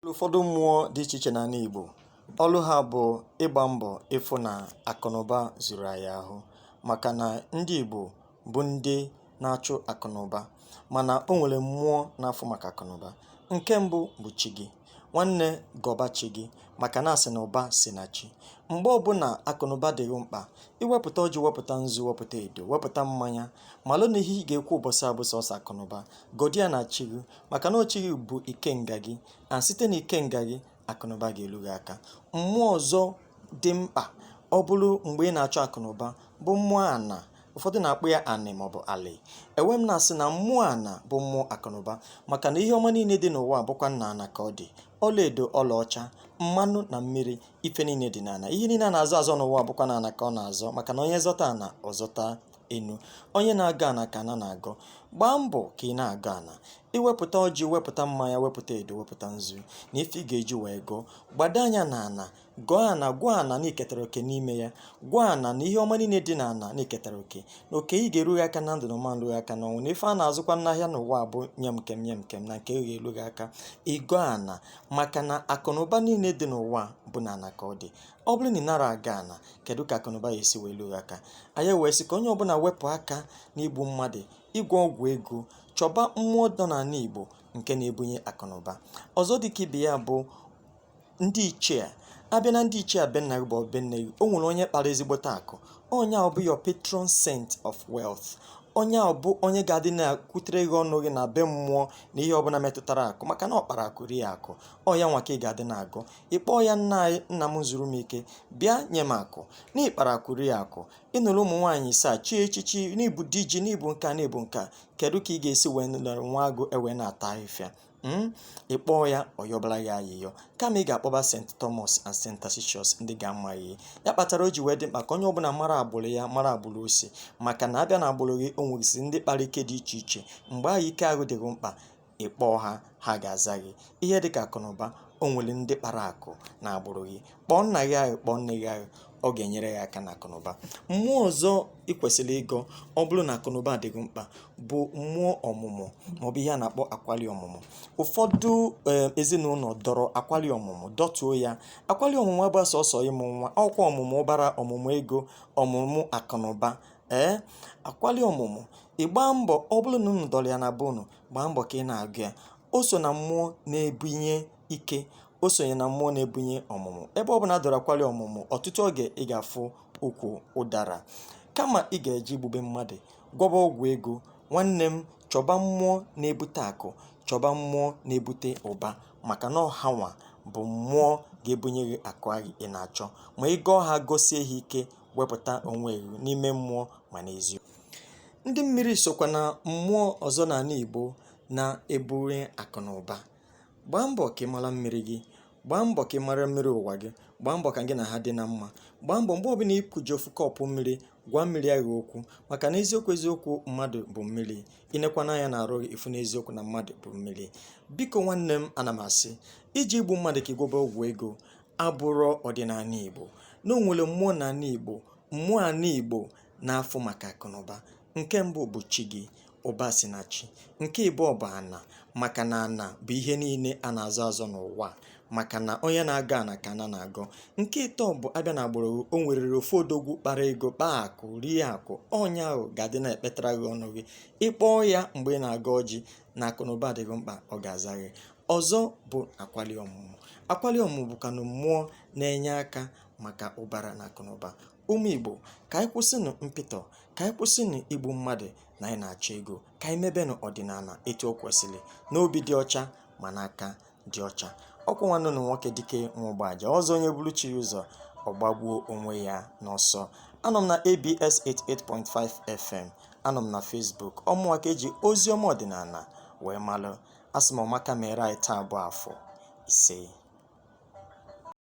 ụfọdụ mmụọ dị iche iche n'ala Igbo ọlụ ha bụ ịgba mbọ ịfụ na akụnụba zuru anyị ahụ maka na ndị Igbo bụ ndị na-achụ akụnụba mana o nwere mmụọ na-afụ maka akụnụba nke mbụ bụ chi gị nwanne gọba chi gị maka na a sị na ụba si na chi mgbe ọbụla akụnụba dị gị mkpa i wepụta ọjị wepụta nzu wepụta edo wepụta mmanya malụ na ihe ị ga-ekwu ụbọchị a bụ sọsọ akụnụba gọdị ya na chi gị maka na ọ chi gị bụ ikenga gị na site na ikenga gị akụnụba ga-elu gị aka mmụọ ọzọ dị mkpa ọ bụrụ mgbe ị na-achọ akụnụba bụ mmụọ ana ụfọdụ na-akpọ ya anị maọbụ alị ewee m na-asị na mmụọ ana bụ mmụọ akụnụba maka na ihe ọma niile dị n'ụwa bụkwa na ana ka ọ dị ọlaedo ọlaọcha mmanụ na mmiri ife niile dị n'ana ihe niile a na-azọ azọ n'ụwa bụkwa n'ana ka ọ na-azọ maka na onye zọta ana ọ zọta enu onye na-agọ ana ka ana na-agọ gbaa mbọ ka ị na-agọ ana i wepụta ọjị wepụta mmanya wepụta edo wepụta nzu na ife ị ga-eji wee gọọ gbado anya na ana gọọ ana gwa ana na i ketara oke n'ime ya gwa ana na ihe ọma niile dị na ana na i ketara oke na oke gị ga-eru gị aka na ndụ na ọ ma-eru gị aka n'ọnwụ na ife a na-azụkwa n'ahịa n'ụwa bụ nye m nke m nye m nke m na nke gị eru gị aka ị gọọ ana maka na akụ na ụba niile dị n'ụwa bụ na ana ka ọ dị ọ bụrụ na ị nara agọ ana kedu ka akụnụba ya-esi wee lu gị aka anyị wee sị ka onye ọbụla wepụ aka n'igbu mmadụ ịgwọ ọgwụ ego chọba mmụọ nọ n'ala igbo nke na-ebunye akụnụba ọzọ dịka ibe ya bụ ndị ichie a bịa na ndị ichie be nna gị maọbụ be nne gị o nwere onye kpara ezigbote akụ onye a bụ your patron saint of wealth onye a bụ onye ga-adị na-akwutere gị ọnụ gị na be mmụọ na ihe ọbụla metụtara akụ maka na ọ kpara akụ rie akụ ọ ya nwa ka ị ga-adị na-agọ ị kpọọ ya nna anyị nna m zuru m ike bịa nye m akụ na ị kpara akụ rie akụ ị nụrụ ụmụ nwaanyị isaa chie echichi na ị bụ di ji na ị bụ nkaa na ị bụ nkaa kedu ka ị ga-esi wee nọrọ nwa agụ ewee na-ata ahịfịa hmm? ị kpọọ ya ọ yọbara ya ayịyọ kama ị ga-akpọba St. Thomas and St. Tarsicius ndị gị amaghị ya kpatara o ji wee dị mkpa ka onye ọbụla mara agbụrụ ya mara agbụrụ o si maka na a bịa na agbụrụ gị o nwegasị ndị kpara ike dị iche iche mgbe ahụ ike ahụ dị gị mkpa ị kpọọ ha ha ga-aza gị ihe dị ka akụnụba o nwere ndị kpara akụ na agbụrụ gị kpọọ nna gị ahụ kpọọ nne gị ahụ ọ ga-enyere gị aka na akụnụba mmụọ ọzọ ị kwesịrị ịgọ ọ bụrụ na akụnụba dị gị mkpa bụ mmụọ ọmụmụ maọbụ ihe a na-akpọ akwali ọmụmụ ụfọdụ eh, ezinụlọ dọrọ akwali ọmụmụ dọtuo ya akwali ọmụmụ abụrọ sọsọ ịmụ nwa ọ kwa ọmụmụ ụbara ọmụmụ ego ọmụmụ akụnụba ee eh, akwali ọmụmụ ị gbaa mbọ ọ bụrụ na unu dọrọ ya na be unu gbaa mbọ ka ị na-agọ ya o so na mmụọ na-ebunye ike o sonye na mmụọ na-ebunye ọmụmụ ebe ọ bụla a dọrọ akwali ọmụmụ ọtụtụ oge ị ga-afụ ukwu ụdara kama ị ga-eji igbube mmadụ gwọba ọgwụ ego nwanne m chọba mmụọ na-ebute akụ chọba mmụọ na-ebute ụba maka na ọ hanwa bụ mmụọ ga-ebunye gị akụ ahụ ị na-achọ ma ị gọọ ha gọsie ha ike wepụta onwe gị n'ime mmụọ ma n'eziokwu ndị mmiri sokwa na mmụọ ọzọ n'ala Igbo na-ebunye akụ na ụba gbaa mbọ ka ị mara mmiri gị gbaa mbọ ka ị mara mmiri ụwa gị gbaa mbọ ka gị na ha dị na mma gbaa mbọ mgbe ọbụla i kuju ofu kọpụ mmiri gwa mmiri ahụ okwu maka na eziokwu eziokwu mmadụ bụ mmiri i nekwana anya na arụ ị fụ na eziokwu na mmadụ bụ mmiri biko nwanne m ana m asị iji igbu mmadụ ka ị gwọba ọgwụ ego abụrọ ọdịnala igbo na o nwere mmụọ na ala igbo mmụọ ala igbo na-afụ maka akụnụba nke mbụ bụ chi gị ụba si na chi nke ịbụọ bụ ana maka na ana bụ ihe niile a na-azọ azọ n'ụwa maka na onye na-agọ ana ka ana na-agọ nke ịtọ bụ a bịa na agbụrụ o nwerere ofu odogwu kpara ego kpaa akụ rie akụ onye ahụ ga-adị na-ekpetara gị ọnụ gị ị kpọọ ya mgbe ị na-agọ ọjị na akụnụba dị gị mkpa ọ ga-aza gị ọzọ bụ akwali ọmụmụ akwali ọmụmụ bụkwanụ mmụọ na-enye aka maka ụbara na akụnụba ụmụ igbo ka anyị kwụsịnụ mpịtọ ka anyị kwụsịnụ igbu mmadụ na anyị na-achọ ego ka anyị mebenụ ọdịnala etu o kwesịrị n'obi dị ọcha ma n'aka dị ọcha ọ kwa nwanne ụnụ nwoke dike nwa ụgbaja ọzọ onye buru chi ụzọ ọ gbagbuo onwe ya n'ọsọ anọ m na abs 88.5 fm anọ m na facebook ọ mụnwa ka e ji ozi ọma ọdịnala wee malụ asị m ọma ga-emere anyị taa bụ afọ isee